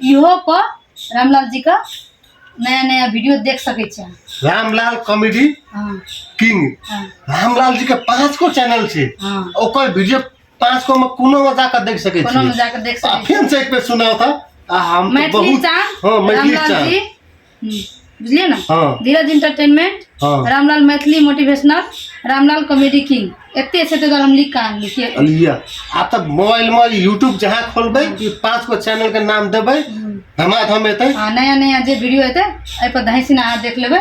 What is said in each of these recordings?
इहो पर रामलाल जी का नया नया वीडियो देख सके छे रामलाल कॉमेडी हाँ किंग हाँ रामलाल जी के पांच को चैनल छे हाँ ओकर वीडियो पांच को में कोनो में जाकर देख सके कोनो में छी जाकर देख आ सके छी फिर से एक बेर सुनाओ था आ हम तो मैथिली बहुत चांद हाँ मैथिली रामलाल चांद जी बुझलियै ने हँ धीरज इंटरटेनमेंट हँ Ramlal Maithili motivational Ramlal comedy king एते छै ताहि दुआरे हम लिख कऽ आनली किए लिअ आब तऽ मोबाइलमे यूट्यूब जहाँ खोलबै ई पाँच गो चैनलके नाम देबै धमाधम एतै आ नया नया जे वीडियो एतै एहिपर धैसिन अहाँ देख लेबै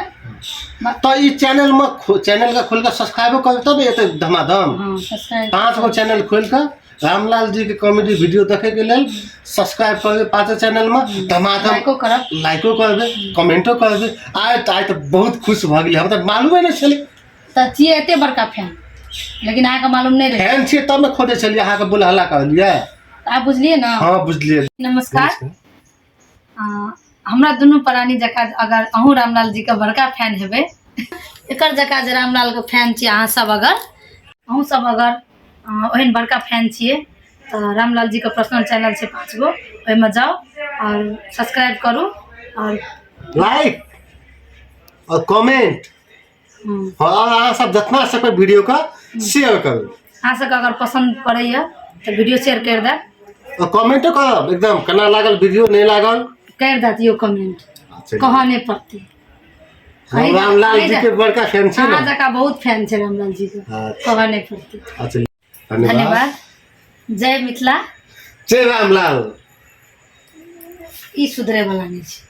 तऽ ई चैनलमे खो चैनलके खोलि कऽ सब्सक्राइबो करबै तब ने एतै धमाधम हँ सब्सक्राइब पाँच गो चैनल खोलि कऽ रामलाल जी के कॉमेडी वीडियो देखे के लेल सब्सक्राइब करबे पाते चैनल में धमाधम लाइको करब लाइको करबे कमेंटो करबे आय त आय त बहुत खुश भ गेली हम त मालूमे नहि छलै तऽ छियै एते बड़का फैन लेकिन अहाँके मालूम नहि रहै फैन छियै तब ने खोजै छलियै अहाँके बुलहला कहलियै तऽ आब बुझलियै ने हँ बुझलियै नमस्कार हमरा दुनू प्राणी जकाँ अगर अहूँ रामलाल जीके बड़का फैन हेबै एकर जकाँ जे रामलालके फैन छी अहाँ सब अगर अहूँ सब अगर ओहन बड़का फैन छियै तऽ रामलाल जीके पर्सनल चैनल छै पाँच गो ओहिमे जाउ आओर सब्सक्राइब करू आओर लाइक और कमेंट हँ अहाँ सब जितना सकबै वीडियोके शेयर करू अहाँ सबके अगर पसन्द पड़ैए तऽ वीडियो शेयर करि देब कमेंटो करब एकदम केना लागल वीडियो नहि लागल करि देत यौ कमेंट कहऽ नहि पड़तै हम रामलाल जी के बड़का फैन छी अहाँ जका बहुत फैन छै रामलाल जी के अच्छा। कहऽ नहि पड़तै अच्छा धन्यवाद जय मिथिला जय रामलाल ई सुधरे वाला नहि छै